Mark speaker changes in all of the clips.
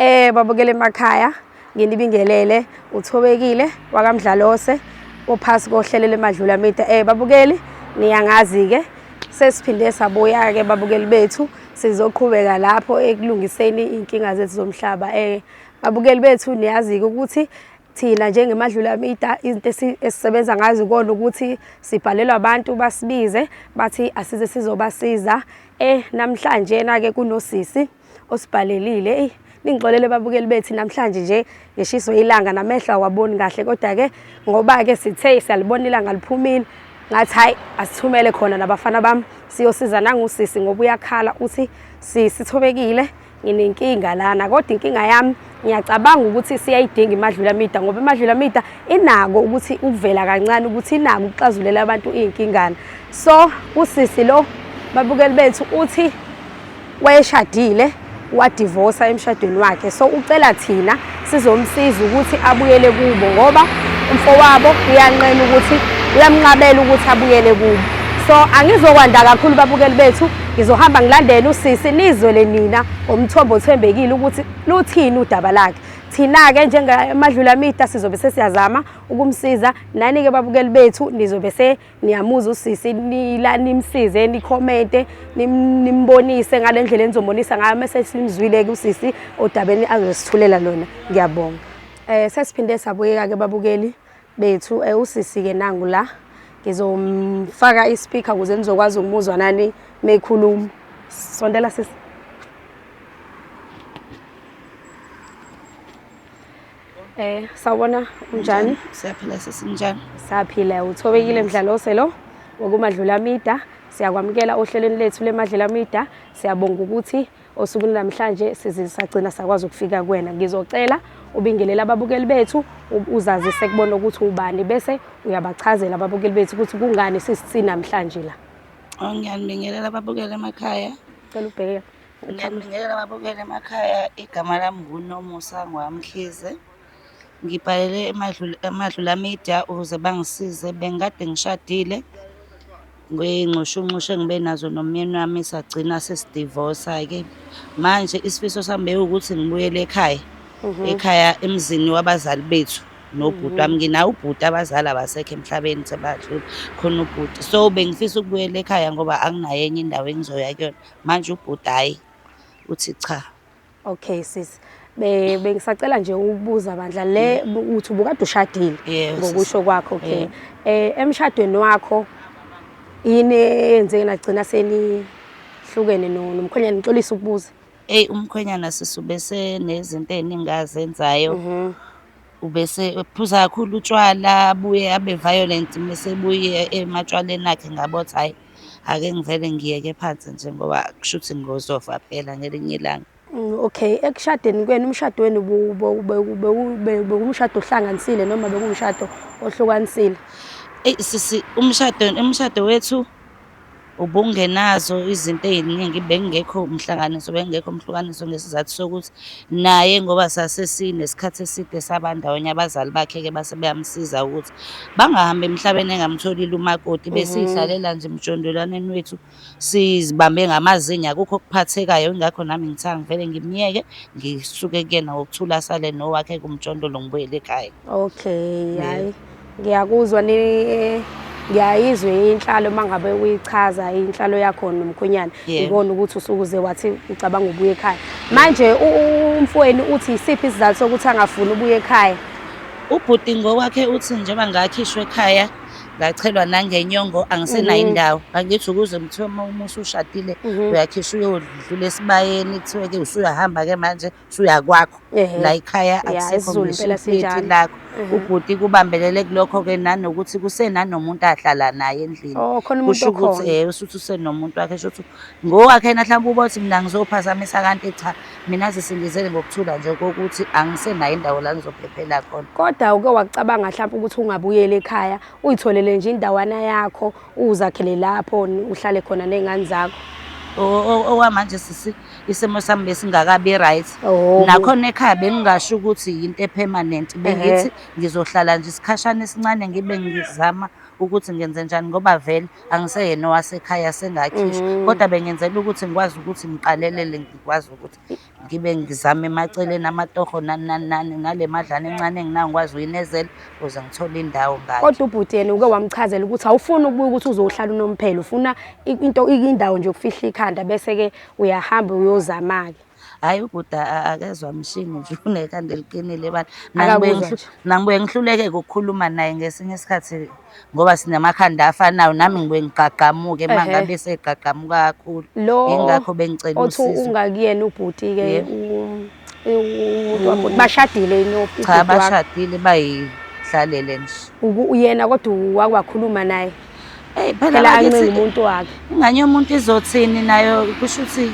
Speaker 1: Eh babukele emakhaya nginibingelele uthobekile wakamdlalose ophasi kohlelo lemadlula media eh babukeli niyangazi ke sesiphinde sabuya ke babukeli bethu sizoqhubeka lapho ekulungiseni inkinga zethu zomhlaba eh babukeli bethu niyazi ukuthi thina njengemadlula media izinto esisebenza ngazo kona ukuthi sibhalelwa abantu basibize bathi asize sizobasiza eh namhlanje na ke kunosisi osibhalelile eyi ningixolele babukeli bethi namhlanje nje ngishiso ilanga namehlo awaboni kahle kodwa-ke ngoba-ke sithe siyalibona ilanga liphumile ngathi hhayi asithumele khona nabafana bami siyosiza nangusisi ngoba uyakhala uthi sisithobekile nginenkinga lana kodwa inkinga yami Ngiyacabanga ukuthi siyayidinga imadlulamida ngoba imadlulamida inako ukuthi ukuvela kancane ukuthi inako ukuxazulela abantu iyinkingana. So usisi lo babukeli bethu uthi wayeshadile wadivosa emshadweni wakhe. So ucela thina sizomsiza ukuthi abuyele kubo ngoba umfowabo uyanqena ukuthi uyamnqabela ukuthi abuyele kubo. So angizokwanda kakhulu babukeli bethu ngizohamba ngilandele usisi nizwele nina ngomthombo othembekile ukuthi luthini udaba lakhe thina-ke njengamadlulamida sizobe sesiyazama ukumsiza nani-ke babukeli bethu nizobe seniyamuza usisi nila nimsize nikhomente nimbonise ngale ndlela enizombonisa ngayo mese simzwile-ke usisi odabeni azosithulela lona ngiyabonga um sesiphinde sabuyeka-ke babukeli bethu eh, usisi ke nangu la ngizomfaka ispeaker ukuze nizokwazi ukumuzwa nani mekhuluma sondela sisi Eh sawubona unjani? Siyaphila sisi
Speaker 2: njani? Siyaphila
Speaker 1: uthobekile mdlalose lo wokumadlula mida siyakwamukela ohlelweni lethu lemadlela mida siyabonga ukuthi Osukwini namhlanje size sagcina sakwazi ukufika kuwena. Ngizocela ubingelele ababukeli bethu uzazise kubona ukuthi ubani bese uyabachazela ababukeli bethu ukuthi kungani sisisi namhlanje la. Oh, ngiyanibingelela
Speaker 2: ababukeli emakhaya. Cela ubheke.
Speaker 1: Ngiyanibingelela
Speaker 2: ababukeli emakhaya. Igama lami nguNomusa Ngwamkhize. Ngibhalele eMadlula Media ukuze bangisize. Bengikade ngishadile ngey'nxushunxushu engibe nazo nomyeni wami sagcina sesidivosa-ke. Manje isifiso sami bewukuthi ngibuyele ekhaya, ekhaya emzini wabazali bethu nobhuti wami. Nginaye ubhuti abazali abasekho emhlabeni sebadlula, khona ubhuti. So bengifisa ukubuyela ekhaya ngoba anginayo enye indawo engizoya kuyona. Manje ubhuti hhayi, uthi cha. Okay sis.
Speaker 1: Be bengisacela nje ukubuza bandla le mm. uthi ubukade ushadile yes, ngokusho kwakho okay. Yeah. Eh emshadweni wakho yini eyenzeke nagcina seni hlukene nomkhwenyana ngixolisa ukubuza. Ey umkhwenyana
Speaker 2: sisube senezinto eningazenzayo. Mhm. Mm ubese ephuza kakhulu utshwala abuye abe violent mese ebuye ematshwaleni akhe ngabothi hhayi Ake ngivele ngiyeke phansi nje ngoba kusho ukuthi ngozofa phela ngelinye ilanga. Mm, okay,
Speaker 1: ekushadeni kwenu umshado wenu bewumshado ohlanganisile noma bekuwumshado ohlukanisile? Eyi sisi
Speaker 2: umshado umshado wethu ubungenazo izinto ey'ningi bengekho umhlanganiso bengekho umhlukaniso ngesizathu sokuthi naye ngoba sasesinesikhathi eside sabandawonye abazali bakhe-ke base beyamsiza ukuthi Bangahambi emhlabeni engamtholile umakoti mhm. besidlalela nje emjondolwaneni wethu sizibambe ngamazinyo akukho okuphathekayo ingakho nami ngithanga ngivele ngimyeke ngisuke kuyena ngokuthula asale nowakhe kumjondolo ngibuyele ekhaya okay hayi
Speaker 1: ngiyakuzwa ni ngiyayizwa inhlalo uma ngabe uyichaza inhlalo yakho nomkhonyana ngibona ukuthi usukuze wathi ucabanga ubuye ekhaya manje umfweni uthi isiphi isizathu sokuthi angafuni ubuye ekhaya Ubhuti
Speaker 2: ngokwakhe uthi njengoba ngakhishwa ekhaya ngachelwa nangenyongo angisenayo mhm. indawo angithi ukuze kuthiwa uma uma usushadile mhm. uyakhisha uyodlula esibayeni kuthiwe-ke usuyahamba-ke manje usuyakwakho la ikhaya akusekho ngisiphithi lakho mhm. ubhuti kubambelele kulokho-ke nanokuthi kusenanomuntu ahlala naye endlini oh, kusho ukuthi um usuthi usenomuntu wakhe sho ukuthi ngowakhe na mhlawumbe uba uthi mina ngizophazamisa kanti cha Mina zisindizele ngokuthula nje kokuthi angisenayo indawo la ngizophephela khona. Kodwa uke wakucabanga
Speaker 1: mhlawumbe ukuthi ungabuyela ekhaya uyitholele nje indawana yakho uzakhele lapho uhlale khona nezingane zakho.
Speaker 2: Okwamanje sisi isimo sami besingakabi right. Oh. Nakhona ekhaya bengingasho ukuthi yinto epermanent. Bengithi ngizohlala nje isikhashana esincane ngibe ngizama ukuthi ngenzenjani ngoba vele angiseyena owasekhaya sengakhishwa mm. kodwa bengenzela ukuthi ngikwazi ukuthi ngiqalelele ngikwazi ukuthi ngibe ngizame emaceleni amatoho nani nani nani nale madlana encane enginayo ngikwazi uyinezela ukuze ngithole indawo ngayo kodwa ubhuti yena uke
Speaker 1: wamchazela ukuthi awufuni ukubuya ukuthi uzohlala unomphelo ufuna into indawo nje ukufihla ikhanda bese ke uyahamba uyozama-ke hayi uguda
Speaker 2: akezwa mshini nje unekhanda eliqinile bani
Speaker 1: nangibuye ngihluleke
Speaker 2: ukukhuluma naye ngesinye isikhathi ngoba sinamakhanda afanayo nami ngibuye ngigqagqamuke uma ngabe segqagqamuka kakhulu yingakho bengicela usizo othi ungakuyena
Speaker 1: ubhuti-ke umuntu wabhuti bashadile cha bashadile
Speaker 2: bayihlalele nje uyena kodwa
Speaker 1: wakhuluma naye Hey phela phela
Speaker 2: angithi- ancenga umuntu
Speaker 1: wakhe ingane yomuntu
Speaker 2: izothini nayo kusho ukuthi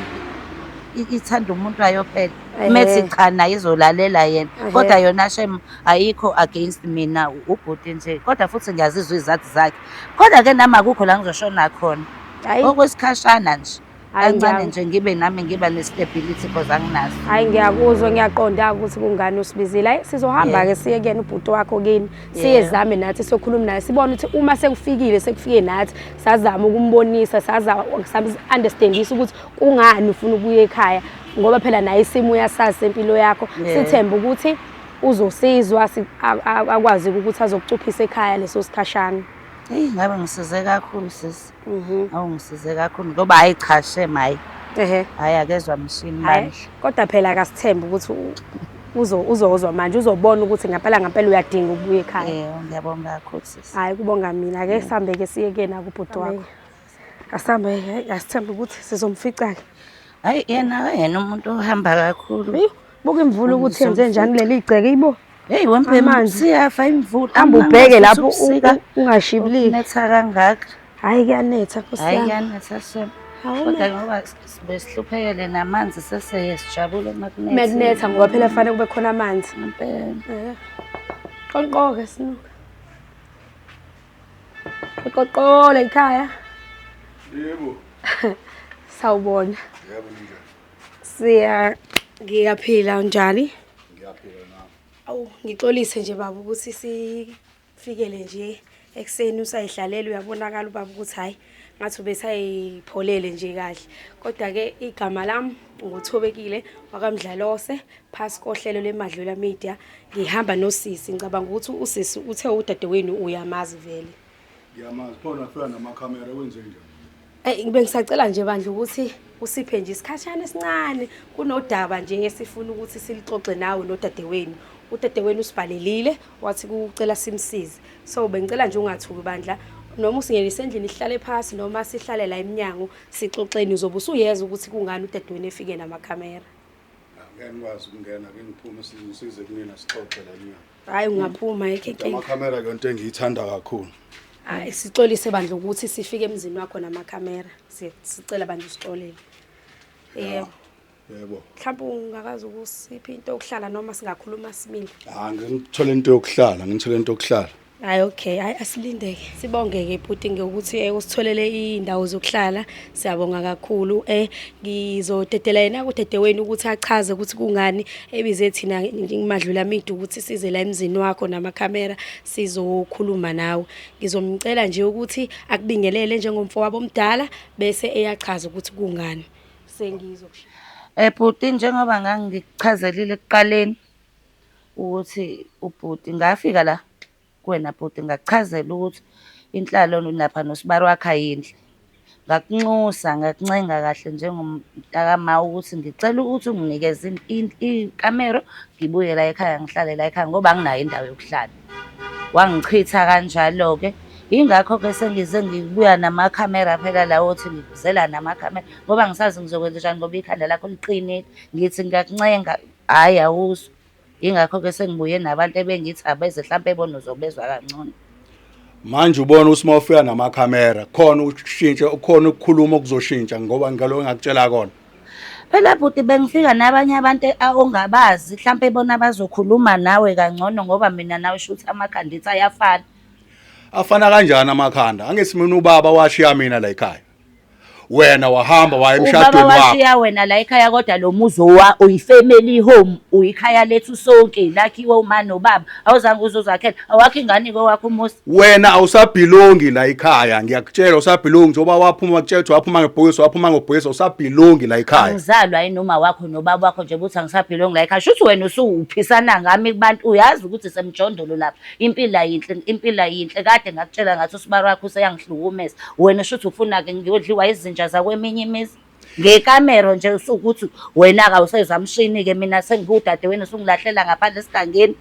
Speaker 2: i- ithanda umuntu wayo phela Ehhe. methi cha naye izolalela yena Ehhe. kodwa yona shem ayikho against mina u- ubhuti nje kodwa futhi ngiyazizwa izathu zakhe kodwa ke nami akukho la ngizoshona khona hayi okwesikhashana nje Hhayi kancane ngiya- nje ngibe nami ngiba ne-stability because anginaso hhayi ngiyakuzwa
Speaker 1: ngiyaqonda ukuthi kungani usibizile hayi sizohamba-ke siye kuyena ubhuti wakho kini siye Yeah. zame nathi siyokhuluma naye sibone ukuthi uma sekufikile sekufike nathi sazama ukumbonisa sazama understandisa ukuthi kungani ufuna ukuya ekhaya ngoba phela naye isimo uyasazi sempilo yakho Yeah. sithembe ukuthi uzosizwa si- a- a- akwazi ukuthi azokucuphisa ekhaya leso sikhashana eyi ngabe
Speaker 2: ngisize kakhulu sisi Mhm. Awu ngisize kakhulu ngoba hayi cha shem hayi. Ehe. Hayi akezwa mshini Hhayi, bandla. kodwa phela akasithembe
Speaker 1: ukuthi u- uzo- uzozwa manje uzobona ukuthi ngempela ngempela uyadinga ukubuya ekhaya Eh ngiyabonga kakhulu sisi.
Speaker 2: hhayi kubonga mina ake
Speaker 1: sihambe-ke siye kuyena kubhuti wakho asihambe hhayi, asithembe ukuthi sizomfica-ke Hayi yena
Speaker 2: yena umuntu ohamba kakhulu. Eyi, buka imvula
Speaker 1: ukuthi yenze njani kuleli gceke ibo Hey wemphe
Speaker 2: siyafa imvula. Hamba ubheke lapho
Speaker 1: ungashibiliki. Netha kangaka.
Speaker 2: Hayi kuyanetha
Speaker 1: Nkosi yami. Hayi kuyanetha shem.
Speaker 2: Kodwa ngoba sibe sihluphekele namanzi seseye sijabule makunetha. Makunetha
Speaker 1: ngoba phela fanele kube khona amanzi. Impela. Qonqoke sinuka. Qoqola ikhaya. Yebo. Sawubona. Yebo njani.
Speaker 3: Siya ngiyaphila
Speaker 1: unjani? Ngiyaphila
Speaker 3: nami. Awu ngixolise
Speaker 1: nje baba ukuthi sifikele nje ekuseni usayidlalela uyabonakala ubaba ukuthi hayi ngathi ubesayipholele nje kahle kodwa ke igama lami nguthobekile wakamdlalose phasi kohlelo lemadlula media ngihamba nosisi ngicabanga ukuthi usisi uthe udadewenu uyamazi vele Ngiyamazi khona
Speaker 3: kufika nama camera kwenze njani? Ey ngibe ngisacela nje bandla
Speaker 1: ukuthi usiphe nje isikhashana esincane kunodaba nje ngesifuna ukuthi silixoxe nawe nodadewenu. Udadewenu usibhalelile wathi kucela simsize. So bengicela nje ungathuki bandla noma usingenise endlini sihlale phansi noma sihlale la eminyango sixoxeni uzobe usuyeza ukuthi kungani udadewenu efike nama camera. Ngeke
Speaker 3: ngikwazi ukungena ke ngiphume size kunina sixoxe la eminyango. Hayi ungaphuma
Speaker 1: yekhe inkinga. Amakhamera ke into engiyithanda
Speaker 3: kakhulu. Hayi
Speaker 1: sixolise bandla ukuthi sifike emzini wakho namakhamera. Siye- Sicela bandla usixolele. Yebo. Yebo.
Speaker 3: Mhlawumbe ungakazi
Speaker 1: ukusiphi into yokuhlala noma singakhuluma simile. Ah ngithole into
Speaker 3: yokuhlala, ngithole into yokuhlala. Hayi okay,
Speaker 1: hayi asilindeke. Sibongeke bhuti ngokuthi eh, usitholele indawo zokuhlala. Siyabonga kakhulu eh ngizodedela yena kudedewenu ukuthi achaze ukuthi kungani ebize thina ngimadlula midu ukuthi size la emzini wakho namakhamera sizokhuluma nawe ngizomcela nje ukuthi akubingelele njengomfowabo omdala bese eyachaza ukuthi kungani sengizokushiya Eh bhuti
Speaker 2: njengoba ngangikuchazelile ekuqaleni ukuthi ubhuti ngafika la Kuwena bhuti ngakuchazela ukuthi inhlalo lapha nosibari wakhe ayinhle. Ngakunxusa ngakuncenga kahle njengomntakama ukuthi ngicela ukuthi unginikeze ikamero ngibuye la ekhaya ngihlale la ekhaya ngoba anginayo indawo yokuhlala. Wangichitha kanjalo-ke. Yingakho-ke sengize ngibuya namakhamera phela lawo othi ngikuzela namakhamera ngoba angisazi ngizokwenzenjani ngoba ikhanda lakho liqinile. Ngithi ngiyakuncenga, hhayi awuzwa. Yingakho-ke sengibuye nabantu ebengithi abeze hlampe bona uzobezwa kangcono. Manje
Speaker 3: ubona uSma ufika namakhamera khona ushintshe ukhona ukukhuluma okuzoshintsha ngoba ngalo engakutshela kona. Phela bhuti
Speaker 2: bengifika nabanye abantu ongabazi hlampe bona bazokhuluma nawe kangcono ngoba mina nawe shuthi amakhanditha ayafana.
Speaker 3: Afana kanjani amakhanda? Angithi
Speaker 2: mina
Speaker 3: ubaba washiya mina la ekhaya. wena wahamba waya emshadweni wakho washiya
Speaker 2: wena
Speaker 3: la ekhaya
Speaker 2: kodwa lo muzi wa uyifamily home uyikhaya lethu sonke lakhiwe uma nobaba awuzange uzozakhela awakho ingane kwakho umuzi wena awusabhilongi
Speaker 3: la ekhaya ngiyakutshela usabhilongi njengoba waphuma wakutshela waphuma ngebhokisi waphuma ngobhokisi usabhilongi la ekhaya angizalwa yini uma wakho
Speaker 2: nobaba wakho nje ukuthi angisabhilongi la ekhaya shuthi wena usuwuphisana ngami kubantu uyazi ukuthi semjondolo lapha Impilo ayinhle, impilo ayinhle kade ngakutshela ngathi usibari wakho useyangihlukumeza. Wena shuthi ufuna-ke ngiyodliwa izinja zakweminye imizi. Ngekamero nje usukuthi wena-ke awusezamshini-ke mina sengiwudadewenu usungilahlela ngaphandle esigangeni.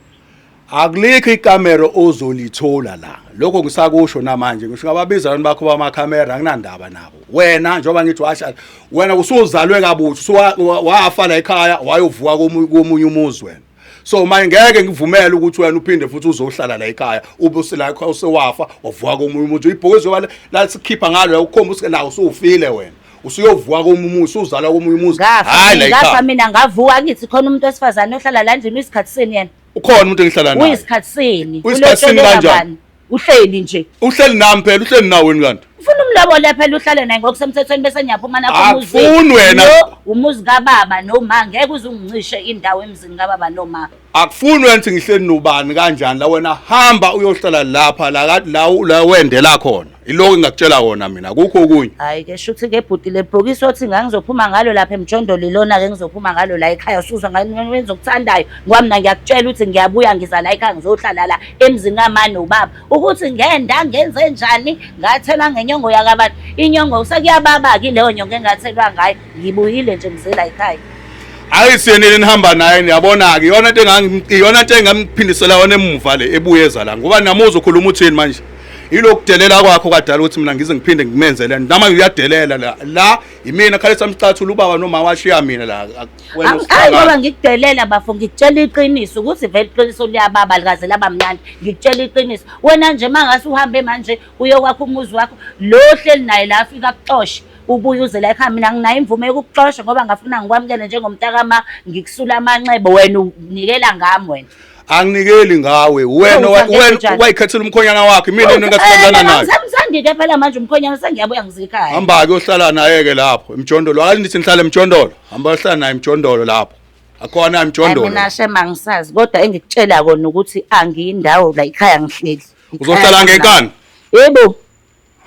Speaker 2: Akulikho
Speaker 3: ikamero ozolithola la. Lokho ngisakusho namanje ngisho ngababiza abantu bakho bamakhamera anginandaba nabo. Wena njengoba ngithi washa wena usuzalwe kabutho wafa la ekhaya wayovuka komunye umuzi wena. so manje ngeke ngivumele ukuthi wena uphinde futhi uzohlala la ekhaya ube usila ekhaya usewafa wavuka komunye umuntu ibhoke zoba la sikhipha ngalo ukhomba usike nawo usufile wena usuyovuka komunye umuntu usuzalwa komunye umuntu hayi la ekhaya ngafa mina
Speaker 2: ngavuka ngithi khona umuntu wesifazane ohlala la ndini isikhathi sini yena ukhona umuntu engihlala naye
Speaker 3: uyisikhathi sini
Speaker 2: uyisikhathi sini kanjani
Speaker 3: uhleli nje
Speaker 2: uhleli nami phela uhleli
Speaker 3: naweni kanti ufuna umlobole phela
Speaker 2: uhlale naye ngokusemthethweni bese ngiyaphuma nakho akufuni wena
Speaker 3: umuzi kababa
Speaker 2: noma ngeke uze ungincishe indawo emzini kababa noma akufuni wena ukuthi
Speaker 3: ngihleli nobani kanjani la wena hamba uyohlala lapha la la la wendela khona iloko engakutshela wona mina kukho okunye hayi ke shuthi ke
Speaker 2: bhuti le bhokisi othi ngangizophuma ngalo lapha emjondolo ilona ke ngizophuma ngalo la ekhaya usuzwa ngani wenzokuthandayo ngoba mina ngiyakutshela ukuthi ngiyabuya ngiza la ekhaya ngizohlala la emzini kama nobaba ukuthi ngenda ngenze njani ngathela ngenyongo yakabantu inyongo sekuyababa-ke ileyo nyongo engathelwa ngayo ngibuyile nje ngizela yikhaya hayi siyenile
Speaker 3: nihamba naye niyabona-ke iyona nto iyona nto engamphindisela yona emuva le ebuye eza la ngoba namuza ukhuluma uthini manje yilokhu delela kwakho kadala ukuthi mina ngize ngiphinde ngimenzele nama uyadelela la la yimina khalisa mcathula ubaba noma washiya mina la Hayi ngoba
Speaker 2: ngikudelela bafo ngikutshela iqiniso ukuthi vele iqiniso liyababa likaze laba mnandi ngikutshela iqiniso wena nje mangase uhambe manje uye kwakho umuzi wakho lo hleli naye la afika kuxoshe ubuye uze la ekhaya mina nginayo imvume yokukuxosha ngoba ngafuna ngikwamukele njengomntakama ngikusula amanxeba wena unikela ngami wena anginikeli
Speaker 3: ngawe wena wena wayikhethela umkhonyana wakhe mina into engasithandana nayo ngisamsandide phela manje
Speaker 2: umkhonyana sengiyabuya ngizikhaya hamba ke uhlala naye
Speaker 3: ke lapho emjondolo akathi nithi nihlala emjondolo hamba uhlala naye emjondolo lapho akhona emjondolo mina shema ngisazi
Speaker 2: kodwa engikutshela kona ukuthi angiyindawo la ikhaya ngihleli uzohlala ngenkani
Speaker 3: yebo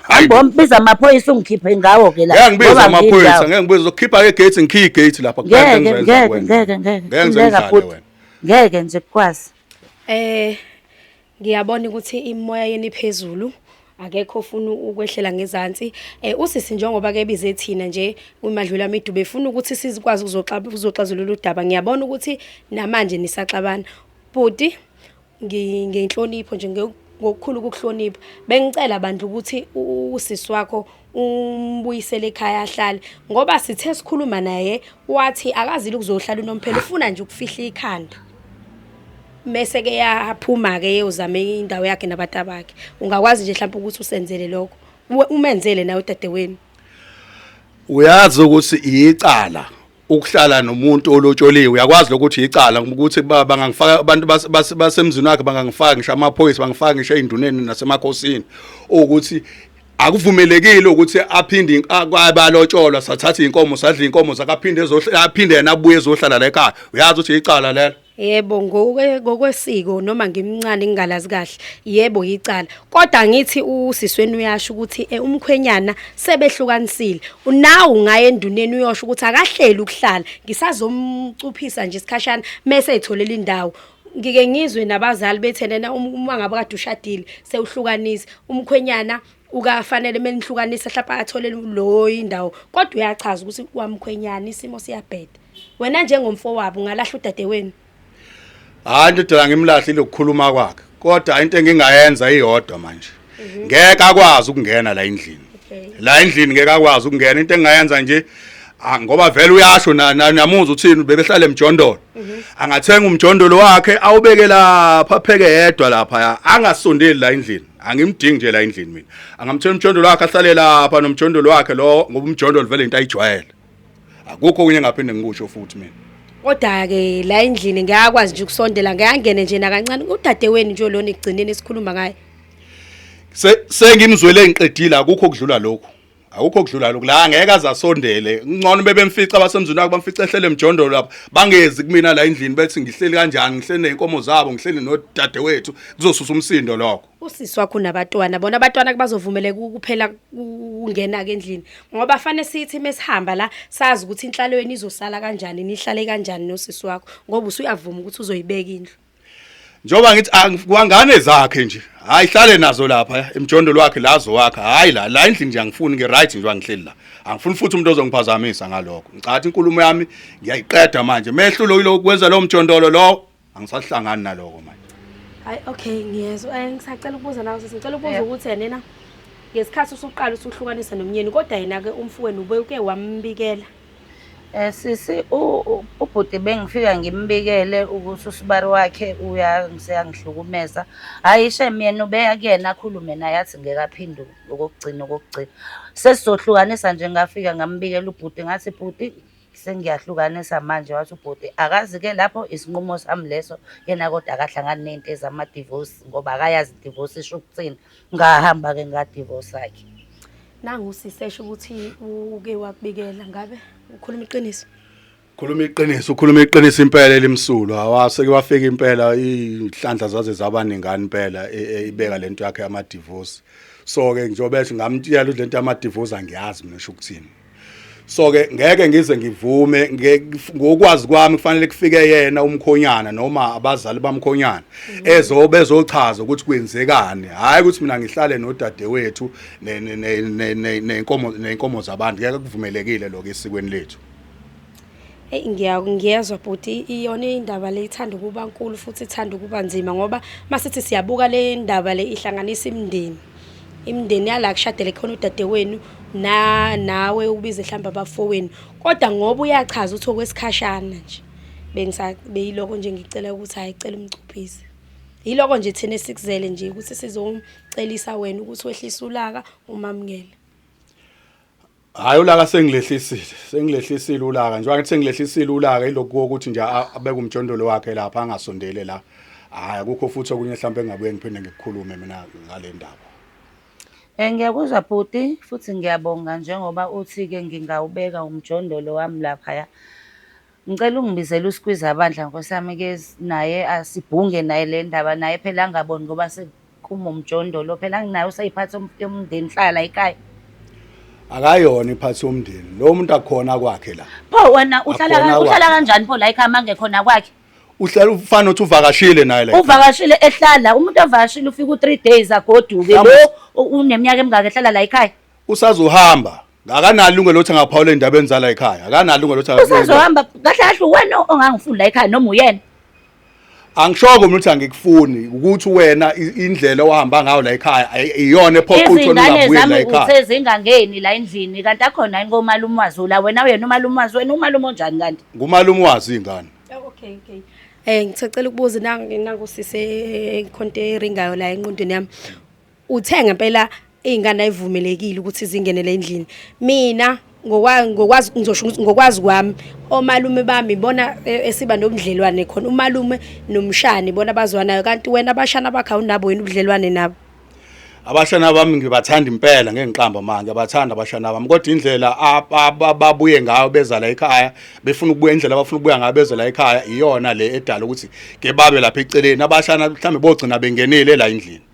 Speaker 2: Hamba mbiza amaphoyisa ungikhiphe ngawo ke la. Ngeke ngibiza amaphoyisa,
Speaker 3: ngeke ngibiza uzokhipha ke gate ngikhiphe gate lapha. Ngeke ngeke
Speaker 2: ngeke ngeke. Ngeke ngibiza wena. Ngeke nje kukwazi. Eh
Speaker 1: ngiyabona ukuthi imoya yeni phezulu akekho ofuna ukwehlela ngezansi eh usisi njengoba ke bize thina nje umadlula midube efuna ukuthi sizikwazi ukuzoxa ukuzoxazulula udaba ngiyabona ukuthi namanje nisaxabana bhuti ngenhlonipho nje ngokukhulu ukukuhlonipha bengicela bandla ukuthi usisi wakho umbuyisele ekhaya ahlale ngoba sithe sikhuluma naye wathi akazile ukuzohlala unomphela ufuna nje ukufihla ikhanda mese ke yaphuma ke yozama indawo yakhe nabatabakhe ungakwazi nje mhlawumbe ukuthi usenzele lokho umenzele nawe dadewenu
Speaker 3: uyazi ukuthi iyicala ukuhlala nomuntu olotsholiwe uyakwazi lokuthi icala ukuthi bangangifaka abantu basemzini wakhe bangangifaka ngisho amaphoyisa bangifaka ngisho ey'nduneni nasemakhosini ukuthi akuvumelekile ukuthi aphinde abalotsholwa sathatha iy'nkomo sadla iy'nkomo zakaphinde aphinde yena abuye ezohlala la ekhaya uyazi ukuthi icala lelo Yebo ngoke
Speaker 1: ngokwesiko noma ngimncane ngingalazi kahle yebo yicala kodwa ngithi usisweni uyasho ukuthi eh, umkhwenyana sebehlukanisile unawu ngaye enduneni uyosho ukuthi akahleli ukuhlala ngisazomcuphisa nje isikhashana mese etholela indawo ngike ngizwe nabazali bethenena um- uma ngabe kade ushadile sewuhlukanisa umkhwenyana ukafanele menihlukanise hlapa athole lo indawo kodwa uyachaza ukuthi wamkhwenyana isimo siyabheda wena njengomfowabo ungalahla udade wenu
Speaker 3: hayi ndodana ngimlahle lokukhuluma kwakhe kodwa into engingayenza iyodwa manje mhm. ngeke akwazi ukungena la endlini la endlini ngeke akwazi ukungena into engingayenza nje ah, ngoba vele uyasho namuzwa uthini bebehlale emjondolo mhm. angathenga umjondolo wakhe awubeke lapha pheke yedwa lapha angasondeli la endlini angimdingi nje la endlini mina angamthela umjondolo wakhe ahlale lapha nomjondolo wakhe lo ngoba umjondolo vele into ayijwayele akukho kunye ngaphinde ngikusho futhi mina kodwa ke
Speaker 1: la endlini ngiyakwazi nje ukusondela ngiyangene nje nakancane udade wenu nje lona igcineni esikhuluma ngaye sengimzwele
Speaker 3: ngiqedile akukho
Speaker 1: kudlula
Speaker 3: lokho awukho okudlula lokhu la ngeke azasondele ngcono bebemfica abasemzini wakhe bamfica ehlele emjondolo lapha bangezi kumina la endlini bethi ngihleli kanjani ngihleli nezinkomo zabo ngihleli nodade wethu kuzosusa umsindo lokho usisi wakho nabatwana
Speaker 1: bona abatwana kubazovumeleka ukuphela ukungena ke endlini ngoba fanele sithi mesihamba la sazi ukuthi inhlalo yenu izosala kanjani nihlale kanjani nosisi wakho ngoba usuyavuma ukuthi uzoyibeka indlu njengoba ngithi
Speaker 3: angifwangane zakhe nje hayi hlale nazo lapha eh, emjondo lwakhe lazo wakhe hayi la la endlini nje angifuni ngi right nje angihleli la angifuni futhi umuntu ozongiphazamisa ngalokho ngicathi inkulumo yami ngiyayiqeda manje mehlulo yilo kwenza lo mjondolo lo angisahlangani naloko manje hayi okay
Speaker 1: ngiyezwa eh, ngisacela ukubuza nawe sisi ngicela ukubuza ukuthi yena ngesikhathi usuqala usuhlukanisa nomnyeni kodwa yena ke umfowenu ubuke wambikela
Speaker 2: Sisi ubhuti bengifika ngimbikele ukuthi usibari wakhe useyangihlukumeza. Hhayi shem yena ubeya kuyena akhulume naye athi ngeke aphendule okokugcina okokugcina. Sesizohlukanisa nje ngafika ngambikela ubhuti ngathi bhuti sengiyahlukanisa manje. Wathi ubhuti akazi-ke lapho isinqumo sami leso, yena kodwa akahlangani ney'nto ezama-divorce ngoba akayazi i-divorce isho ukuthini. ngahamba ke ngadivorce ke nangu usisi
Speaker 1: esho ukuthi uke wakubikela ngabe ukhuluma iqiniso khuluma iqiniso
Speaker 3: ukhuluma iqiniso impela elimsulwa awaseke wafika impela inhlanhla zaze zabaningani impela e, e, ibeka lento yakhe ama divorce so ke njobe ngamtshela ukuthi lento ama divorce angiyazi mina sho ukuthini so ke ngeke ngize ngivume ngokwazi kwami kufanele kufike yena umkhonyana noma abazali bamkhonyana mm. ezo bezochaza ukuthi kwenzekani hayi ukuthi mina ngihlale nodadewethu nenkomo nenkomo zabantu ngeke kuvumelekile lokho esikweni lethu Eyi
Speaker 1: ngiyezwa bhuti iyona indaba le ithanda ukuba nkulu futhi ithanda ukuba nzima ngoba uma sithi siyabuka le ndaba le ihlanganisa imindeni imindeni yala kushadele khona udadewenu na nawe ubize mhlawumbe abafowenu kodwa ngoba uyachaza ukuthi okwesikhashana nje beyiloko nje ngicela ukuthi hhayi cela umcuphise yiloko nje thina esikuzele nje ukuthi sizomcelisa wena ukuthi wehlise ulaka umamukele
Speaker 3: Hayi ulaka sengilehlisile, sengilehlisile ulaka. Njengoba ngithi sengilehlisile ulaka ilokhu ukuthi nje abeke umjondolo wakhe lapha angasondele la. Hayi akukho futhi okunye mhlawumbe engabuye ngiphinde ngikukhulume mina ngale ndaba. Eh
Speaker 2: ngiyakuzwa bhuti futhi ngiyabonga njengoba uthi-ke ngingawubeka umjondolo wami laphaya. Ngicela ungibizele uSqueezer bandla nkosi yami ke naye asibhunge naye le ndaba naye phela angaboni ngoba sekuphuma umjondolo phela nginaye useyiphathi yomndeni hlala la ekhaya.
Speaker 3: Akayona iphathi yomndeni. Lo muntu akhona kwakhe la. Pho wena uhlala
Speaker 2: Akhona ka- uhlala kwakhe. kanjani pho la ekhaya mangekhona kwakhe? Uhlala ufana
Speaker 3: uthi uvakashile naye la. Uvakashile ehlala
Speaker 2: umuntu ovakashile ufika u3 days agoduke Mhlawumbe- lo u- uneminyaka emingaka ehlala la ekhaya. usazohamba
Speaker 3: akanalo ilungelo lokuthi angaphawula indaba enzala ekhaya akanalo ilungelo lokuthi usazohamba kahle kahle
Speaker 2: uwena ongangifuni la ekhaya noma uyena
Speaker 3: angishoko mina ukuthi angikufuni ukuthi wena indlela ohamba ngayo la ekhaya iyona ephoqa ukuthi ungabuye la ekhaya usezingangeni la
Speaker 2: endlini kanti akhona yini komalume wazi la wena uyena umalume wazi wena umalume onjani kanti ngumalume wazi ingane
Speaker 3: oh, okay okay
Speaker 1: Eh ngicela ukubuza nangu nangu sise ikhonto eringayo la enqondweni yami Uthe ngempela izingane ayivumelekile ukuthi zingenele endlini. Mina ngokwazi ngizosho ukuthi ngokwazi kwami omalume bami bona e, esiba nobudlelwane khona umalume nomshani bona bazwanayo kanti wena abashana bakhe awunabo wena ubudlelwane nabo abashana
Speaker 3: bami ngibathanda impela ngengiqamba manje ngiyabathanda abashana bami kodwa indlela ababuye ngayo beza la ekhaya befuna ukubuya indlela abafuna ukubuya ngayo beza la ekhaya iyona le edala ukuthi ke babe lapha eceleni abashana mhlambe bogcina bengenile la endlini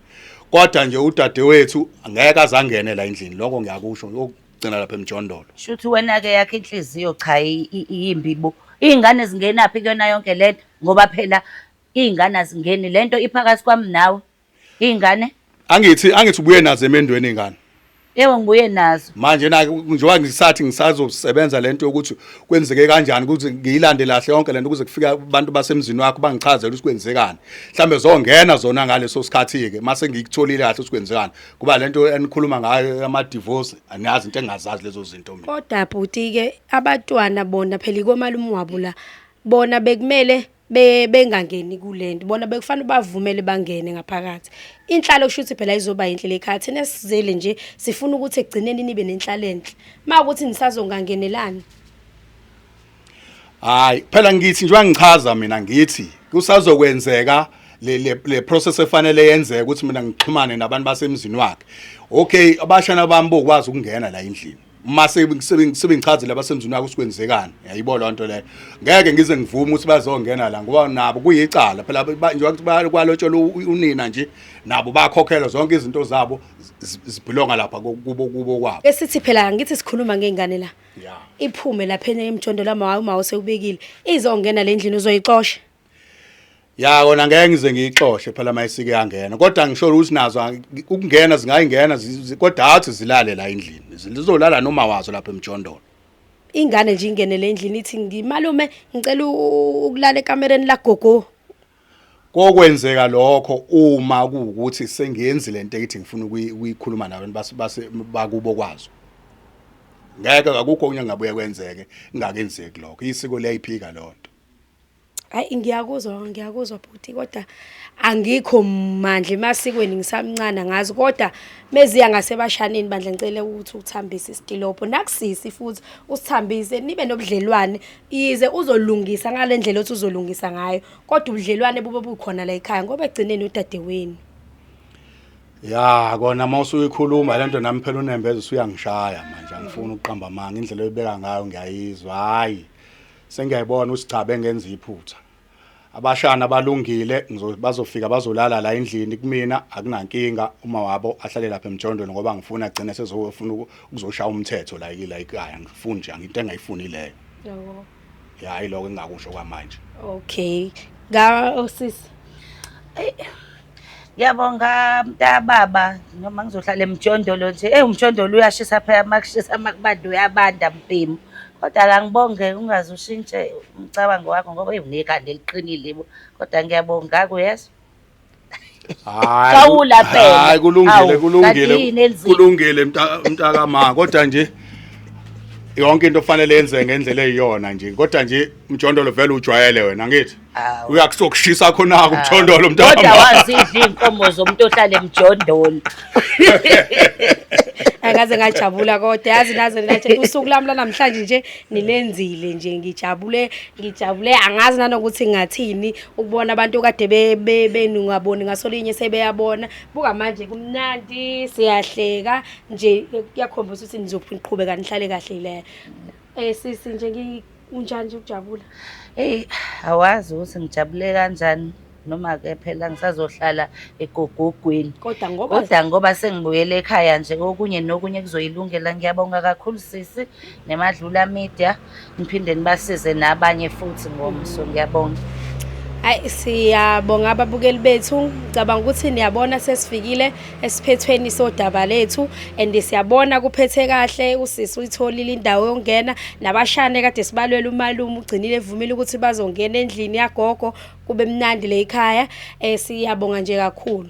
Speaker 3: kodwa nje udadewethu ngeke azangene la endlini lokho ngiyakusho ngiyokugcina lapha emjondolo shuthi wena-ke yakhe
Speaker 2: inhliziyo cha iyimbi bo iy'ngane zingenaphi kuyona yonke le nto ngoba phela iy'ngane azingeni le nto iphakathi kwami nawe iy'ngane angithi angithi
Speaker 3: ubuye nazo emendweni iy'ngane Yebo ngibuye
Speaker 2: nazo. Manje na njengoba
Speaker 3: ngisathi ngisazosebenza lento yokuthi kwenzeke kanjani ukuthi ngiyilande lahle yonke lento kuze kufika abantu basemzini wakho bangichazele ukuthi kwenzekani. Mhlambe zongena zona ngaleso sikhathi ke mase ngikutholile kahle ukuthi kwenzekani. Kuba lento enikhuluma ngayo ama divorce aniyazi into engazazi lezo zinto mina. Kodwa bhuti ke
Speaker 1: abatwana bona phela ikomalume wabo la bona bekumele be bengangeni kulento bona bekufanele bavumele bangene ngaphakathi inhlalo kusho ukuthi phela izoba yinhle lekhaya thina sizele nje sifuna ukuthi egcineni nibe nenhlalo enhle makuthi nisazongangenelani
Speaker 3: hayi phela ngithi njengoba ngichaza mina ngithi kusazokwenzeka le le process efanele yenzeke ukuthi mina ngixhumane nabantu basemzini wakhe okay abashana bami bokwazi ukungena la endlini uma sebengichazile abasemzini wakho sikwenzekani yayibo loo nto leyo ngeke ngize ngivume ukuthi bazongena la ngoba nabo kuyicala phela njengoba kwalotshelwa unina nje nabo bakhokhelwa zonke izinto zabo zibhilonga lapha kubo kubo kwabo esithi phela ngithi
Speaker 1: sikhuluma ngey'ngane la iphume
Speaker 3: lapha
Speaker 1: emjondolo amawayo uma usewubekile izongena le ndlini uzoyixosha ya
Speaker 3: kona ngeke ngize ngiyixoshe phela mayisike yangena kodwa ngisho ukuthi nazo ukungena zingayingena kodwa athi zilale la endlini zizolala noma wazo lapha emjondolo ingane
Speaker 1: nje ingenele endlini ithi ngimalume ngicela ukulala ekamereni lagogo
Speaker 3: kokwenzeka lokho uma kuwukuthi sengiyenzi lento ekithi ngifuna ukuyikhuluma nabantu base base bakubo kwazo ngeke akukho okunye ngabuye kwenzeke ngakenzeki lokho isiko liyayiphika lonto Hayi
Speaker 1: ngiyakuzwa ngiyakuzwa bhuti kodwa angikho mandla emasikweni ngisamncane ngazi kodwa meziya ngasebashaneni bandla ngicela ukuthi uthambise isitilobho nakusisi futhi usithambise nibe nobudlelwane yize uzolungisa ngale ndlela othi uzolungisa ngayo kodwa ubudlelwane bube bukhona la ekhaya ngoba egcineni udadewenu
Speaker 3: ya kona uma usuyikhuluma le nto nami phela unembeza usuyangishaya manje angifuni ukuqamba amanga indlela oyibeka ngayo ngiyayizwa hhayi Sengiyayibona usigcabe ngenza iphutha. Abashana balungile bazofika bazolala la endlini kumina akunankinga uma wabo ahlale lapha emjondweni ngoba ngifuna agcine sezofuna ukuzoshaya umthetho la la ekhaya ngifuni nje into engayifuni leyo.
Speaker 1: Yebo. Hayi lokho
Speaker 3: engakusho kwamanje. Okay.
Speaker 1: Ga osisi. Oh,
Speaker 2: Ngiyabonga mntababa noma ngizohlala emjondolo nje. Eyi umjondolo uyashisa phela makushisa makubanda uyabanda mbhemu. Kodwa ke angibonge ungaze ushintshe umcabango wakho ngoba eyi unekhanda eliqinile bo. Kodwa ngiyabonga ngakho uyezwa. Hayi. Xawula phela. Hayi kulungile Awu,
Speaker 3: kulungile. kanti yini elizima? Kulungile mta- mntakama kodwa nje yonke into kufanele yenze ngendlela eyiyona nje. Kodwa nje mjondolo vele ujwayele wena ngithi. uyakusokushisa khona-ke umjondolo mntakodwa wazidla
Speaker 2: iy'nkomo zomuntu ohlale mjondolo
Speaker 1: akaze ngajabula kodwa yazi naze nathi usuku lami lanamhlanje nje nilenzile nje ngijabule ngijabule angazi nanokuthi ngathini ukubona abantu kade benungaboni ngasolinye sebeyabona buka manje kumnandi siyahleka nje kuyakhombisa ukuthi nizophinqhubeka nihlale kahle le Eh sisi nje ngikunjani nje ukujabula? Hey,
Speaker 2: awazi ukuthi ngijabule kanjani noma ke phela ngisazohlala egogogweni. Kodwa ngoba Kodwa ngoba sengibuyele ekhaya nje okunye nokunye kuzoyilungela ngiyabonga kakhulu sisi nemadlula media niphinde nibasize nabanye futhi ngomso ngiyabonga. Hayi
Speaker 1: siyabonga ababukeli bethu. Ngicabanga ukuthi niyabona sesifikile esiphethweni sodaba lethu and siyabona kuphethe kahle usisi uyitholile indawo yongena nabashane kade sibalwela umalume ugcinile evumile ukuthi bazongena endlini yagogo kube mnandi le ikhaya eh siyabonga nje kakhulu